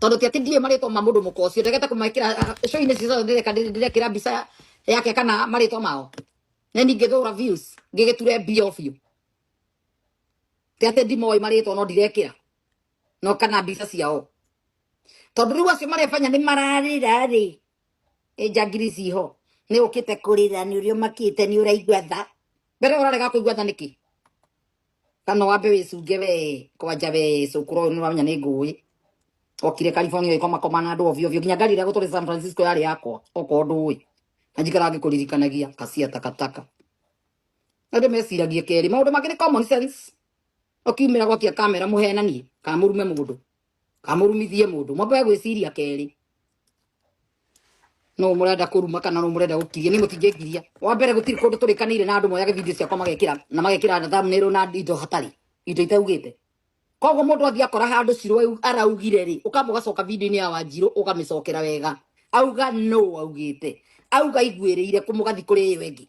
tondu ti ati ndiwe maritwa ma mundu muka ucio ndegete kumekira show-ini cio ciothe ndireka ndirekira mbica yake kana maritwa mao na ni ngithura views ngigiture mbia biu ti ati ndimoi maritwa no ndirekira no kana mbica ciao tondu riu acio marefanya ni mararira ri njangiri ciho ni ukite kurira ni uria makite ni uraigua tha mbere urarega kuigua tha niki kana wambe wicunge we kwanja we cukuru uyu niramenya ni ngui okire california ikomakoma na andu ovio ovio nginya ngari iria guturi san francisco yari yakwa okorwo ndui na njikara ngikuririkanagia kacia takataka andu meciragie keri maundu mangĩ ni common sense okiumira gwakia kamera muhenanie kana murume mundu kamurumithie mundu mwambe gwiciria keri no murenda kuruma kana no murenda gukiria ni mutingikiria wa mbere gutiri kundu turikanire na andu moyaga video ciakwa magekira na magekira na thumbnail na indo hatari indo itaugite koguo mundu athi akora handu ciro araugire ri ukamba ugacoka video-inĩ ya wanjiru ukamicokera wega auga no augite auga iguirire kumugathi kuri iyo ingi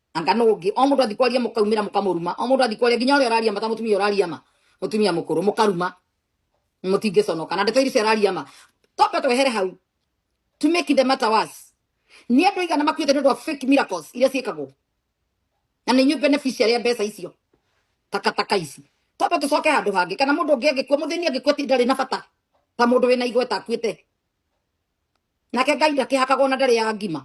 anga no ngi o mundu athikwaria mukaumira mukamuruma o mundu athikwaria nginya uri araria mata mutumia uraria ma mutumia mukuru mukaruma mutinge sono kana ndeto iri araria ma tope twehere hau to make the matter worse ni andu igana makuite ndu fake miracles iria ciikagwo na ni nyu beneficiary ya mbeca icio takataka ici tope tucoke handu hangi kana mundu ngi angikua muthini angikua ti ndari na bata ta mundu wina igweta akuite nake ngai ndakĩhakagwo na ndarĩ ya ngima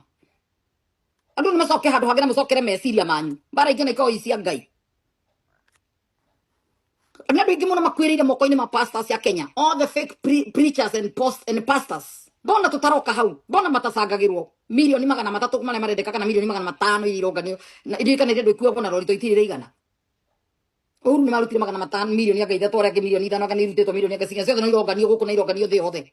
andũ nĩ macoke handũ hangĩ na mũcokere meciria manyu mbara ingĩ na ikoragwo i cia ngai nä andå aingä må no makuä rä ire moko-inä ma pastors ya kenya all the fake pre preachers and, post and pastors mbona tå taroka hau mbona matacangagä rwo milioni magana matatå marä a marendeka kana milioni magana matano iria ironganio iririkana iria andå ikuagwo na rorito itirä rä igana å ru nä marutire magana matano milioni anga ithatå arä angä milioni ithano anga nä irutĩtwo milioni anga cinya ciothe no ironganio gå kå na ironganio thä yothe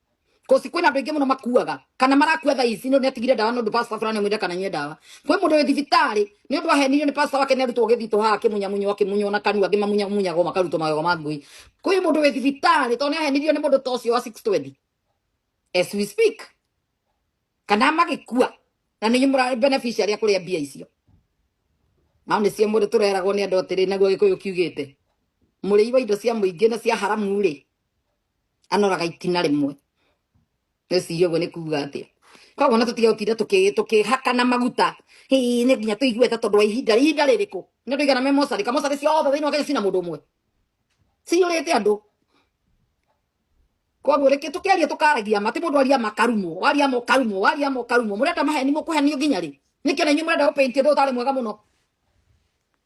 kosi kwina andu ingi muno makuaga kana marakua thaa ici ni atigire ndawa nondu pastor fulani amwira kana nye ndawa kwi mundu wi thibitari ni undu ahenirio ni pastor wake ni arutwo githito haha kimunyamunyo akimunyo na kanua angi mamunyamunyago makarutwo magego ma ngui kwi mundu wi thibitari tondu ni ahenirio ni mundu ta ucio wa 620 as we speak kana magikua na ninyi murari beneficiary akuria mbia icio nao nä cio må rä tå reragwo nä andå atä rä naguo gä kå yå kiugä te må rä i wa indo cia må ingä na cia haramu rä anoraga itina rĩmwe nĩciria ũguo nĩ kuga atĩa koguo na tũtige gũtinda tũkĩ- tũkĩhakana maguta Hĩ, nĩ nginya tũigue ta tondũ wa ihinda ihinda rĩrĩkũ nĩ andũ igana me mocarĩ ka mocarĩ ciothe thĩinĩ wa kenya cina mũndũ ũmwe ciyũrĩte andũ koguo reke tũkeria tũkaragia ma ti mũndũ aria makarumwo waria mokarumwo waria mokarumwo mũrenda maheni mũkũhenio nginya rĩ nĩkĩo na inyuĩ mũrenda gũpainti ũndũ ũtarĩ mwega mũno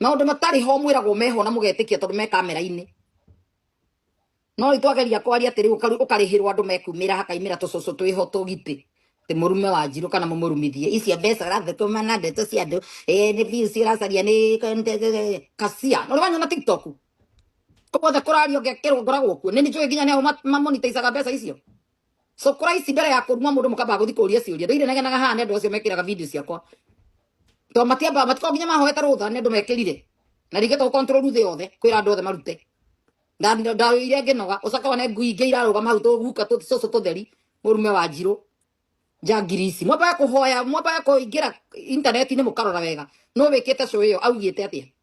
maundu matari ho mwiragwo meho na mugetikia tondu me kamera-ini no itwageria kwaria atiri ukarihirwo andu mekumira hakaimira tucucu twiho tugiti ti murume wa njiru kana mumurumithie icio mbeca urathukuma na ndeto cia andu eh, ni views uracaria ni kasia no riwanyona tiktok koguo the kuraria ngekirwo ngoragwo kuo ni njui nginya nao mamonitaicaga mbeca icio so Christ mbere ya kũruma mũndũ mũkamba gũthiĩ kũũria ciũria ndĩire negenaga haha nĩ andũ acio mekĩraga video ciakwa to matiamba matiko nginya mahoete rũtha nĩ andũ mekĩrire na rĩngĩ to control thĩ yothe kwĩra andũ othe marute ndaire ngĩnoga ũcoka one ngui ingĩ irarũgama hau tũguka tũcũcũ tũtheri mũrume wa njirũ njangiri ici mwambaga kũhoya mwambaga kũingĩra intaneti-inĩ mũkarora wega no wĩkĩte cũĩ ĩyo augĩte atĩa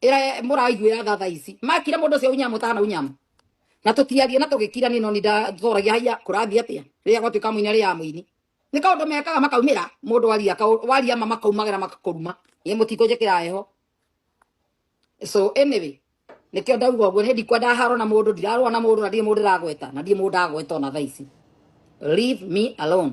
ira muraiguira tha tha ici makire mundu ucio unyamu tana unyamu na tutiarie na tugikira ni no ni ndathoragia haya kurathi atia riria gwatuika muini ria muini ni kaundu mekaga makaumira mundu aria kau- waria ma makaumagira makakuruma ye mutiku njikira heho so anyway nikio ndauga uguo ni ndikwenda haro na mundu ndirarwa na mundu na ndirĩ mundu ndagweta na ndirĩ mundu ndagweta ona tha ici leave me alone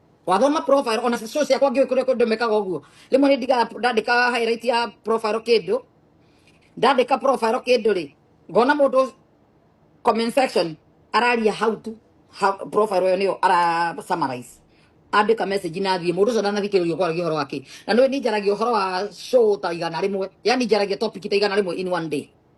wathoma profile ona show ciakwa ngiũĩ kũrĩa kũndũ mekaga ũguo rĩmwe nĩ ndiga ndandĩka highlight ya profile kĩndũ ndandĩka profile kĩndũ rĩ ngona mũndũ comment section araria how to how profile ĩyo nĩyo ara summarize andĩka message na thiĩ mũndũ ũcio ndanathikĩrĩria kwaragia ũhoro wake na nĩ njaragia ũhoro wa show ta igana rĩmwe yani njaragia topic ta igana rĩmwe in one day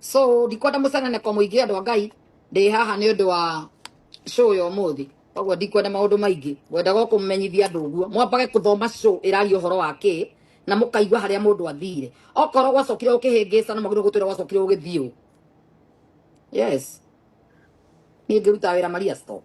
so ndikwenda mucenane kwa muingi andu a ngai ndi haha ni undu wa show ya umuthi koguo ndikwenda maundu maingi ngwendaga kumumenyithia andu uguo mwambage kuthoma show iraria uhoro wa ki na mukaigua haria mundu athire okorwo gwacokire ukihingisa no magirwo gutwira gwacokire ugithio yes ni ngiruta wira maria stop